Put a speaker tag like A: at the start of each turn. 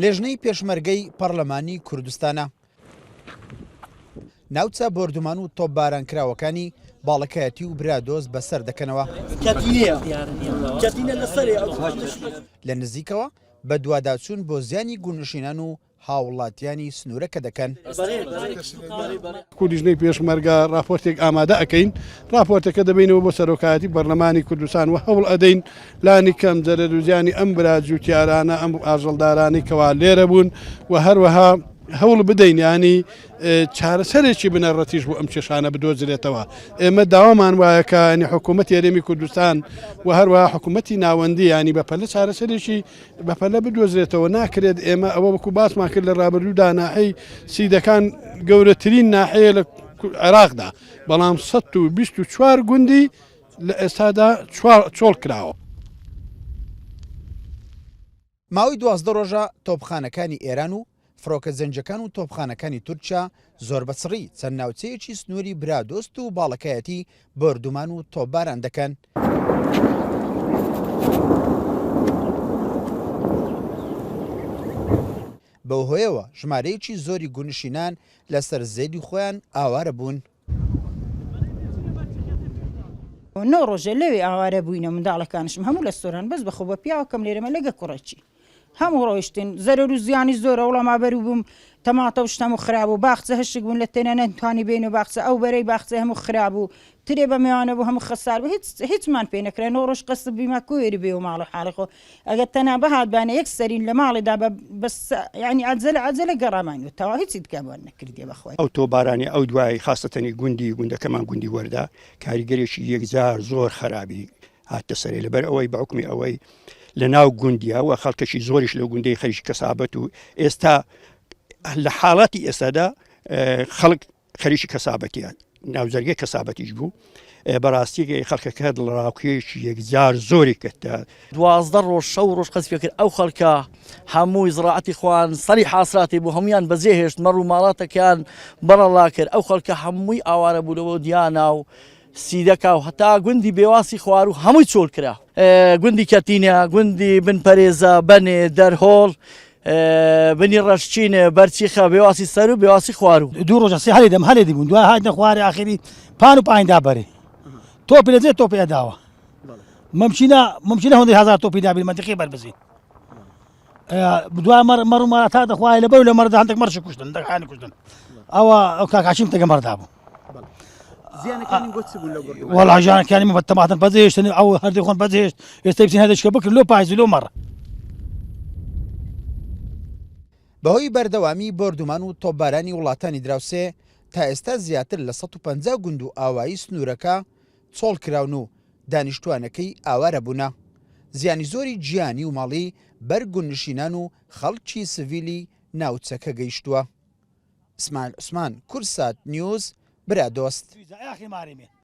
A: لیژنەی پێشمەرگەی پەڕلەمانی کوردستانە ناوچە بۆردومان و تۆپباران کراوەکانی باڵەکایەتی و برادۆز بەسەر دەکەنەوە لە نزیکەوە بە دوواداچوون بۆ زیانی گونشینان و هاوڵاتیانی سنوورەکە دەکەن.
B: کوردیژنەی پێشمەرگە ڕاپۆرتێک ئامادە ئەکەین ڕاپۆرتەکە دەبینەوە بۆ سەرۆکایەتی پەرلەمانی کوردستان و هەوڵ ئەدەین لانی کەم زەرەروزیانی ئەم برا جووتیارانە ئەم ئاژەڵدارانی کەوا لێرە بوون و هەروەها هەوڵ بدەین ینی چارەسەرێکی بنەڕەتیش بۆ ئەم کێشانە بدۆزرێتەوە ئێمە داوامان وایەکانی حکوومەت یاێمی کوردستان و هەروە حکوومەتی ناوەندی ینی بە پەلە چارەسەرێکی بەپەلە بدۆزرێتەوە ناکرێت ئێمە ئەوە وەکو باسمان کرد لە رابرردوو داناحی سیدەکان گەورەترین ناحەیە لە عێراقدا بەڵام 1924 گوندی لە ئێستادا چۆڵ کراوە.
A: ماوەی دوازدە ڕۆژە تۆپخانەکانی ئێران و فڕۆکە جەنگیەکان و تۆپخانەکانی تورکیا زۆر بە چڕی چەند ناوچەیەکی سنووری برادۆست و باڵەکایەتی بۆردومان و تۆپباران دەکەن. بەو هۆیەوە ژمارەیەکی زۆری گوونشینان لەسەر زێدی خۆیان ئاوارە بوون.
C: نۆ ڕۆژە لەوێ ئاوارە بووینە منداڵەکانشم هەموو لە سۆران بەس بەخۆ بە پیاوەکەم لێرەمە لەگە کوڕەچی هەموو ڕۆیشتن زەرەر و زیانی زۆرە وڵام ئابەرو بووم تەماتە و شتەم و خراب و باخچە هەشک بوون لە تێنە نەتوانی بین و باخچە ئەو بەرەی باخچە هەموو خراب و ترێ بە مێوانە بوو هەموو خەسار بوو هیچ هیچمان پێ نەکرا نۆ ڕۆژ قەسب بیمە کوێری بێ و ماڵە حاڵی خۆ ئەگەر تەنها بهاتبانە یەک سەرین لە ماڵێدا بە بەس یعنی عەجەلە عەجەلە گەڕامان و تەوا هیچی دیکە بۆن نەکردی بەخۆی. ئەو تۆبارانەی ئەو
D: دوای خاستەنی گوندی گوندەکەمان گوندی وەردا کاریگەرێکی یەکجار زۆر خەرابی هاتە سەرێ لەبەر ئەوەی بەعکمی ئەوەی لە ناو گوندیا و خەڵکەکی زۆریش لە گوندەی خەریکی کەسابەت و ئێستا لە حاڵاتی ئێستادا خەڵک خەریکی کەسابەتیان ناوجەرگەی کەسابەتیش بوو بەڕاستی خەڵکەکە دڵڕاوکێشی یەکجار زۆری کردە دوازدە ڕۆژ
E: شەو ڕۆژ قەزفێ کرد ئەو خەڵکە هەمووی زڕعەتی خوان سەری حاصلاتی بوو هەمویان بەجێ هێشت مەڕ و ماڵاتەکەیان بەڕەڵا کرد ئەو خەڵکە هەمووی ئاوارە بوونەوە دیانا و سیدەکا و هەتا گوندی بێواسی خواروو هەمووی چۆل کرا. گوندی کەتینە، گوندی بن پەرێزە، بەنێ، دەرهۆڵ، بنی ڕەشچین، بەرچیخە، بێواسی سەر و بێواسی خواروو. دوو ڕۆژە سێ هەلێ دەم
F: هەلێ دیبوون، دوای هاتنە خوارێ ئاخری پان و پایین دا بەرێ تۆپی لە جێ تۆپی ئەداوە مەمچینە، مەمچینە هۆندەی هەزار تۆپی دابین مەنتیقی بەربزین دوا مەڕ مەڕ و مەڕ تا دەخوای لە بەو لە مەردا هەندێک مەرشی کوشتن دەکانی کوشتن ئەوە ئەو کاکاشیم تەگە مەردا بوو وەڵا ژیانەکانی بە تەماتن بەزێشتن ئەو هەردی خۆن بەزێشت ئێستا بچین هەدەشکە بکرد لۆ پایز لۆ مەڕ
A: بەهۆی بەردەوامی بردومان و تۆبارانی وڵاتانی دراوسێ تا ئێستا زیاتر لە 150 گوند و ئاوایی سنوورەکە چۆڵ کراون و دانیشتوانەکەی ئاوارە بوونە. زیانی زۆری گیانی و ماڵی بەر گوندنشینان و خەڵکی سڤیلی ناوچەکە گەیشتووە. ئیسماعیل عوسمان، کورسات نیوز، برادۆست.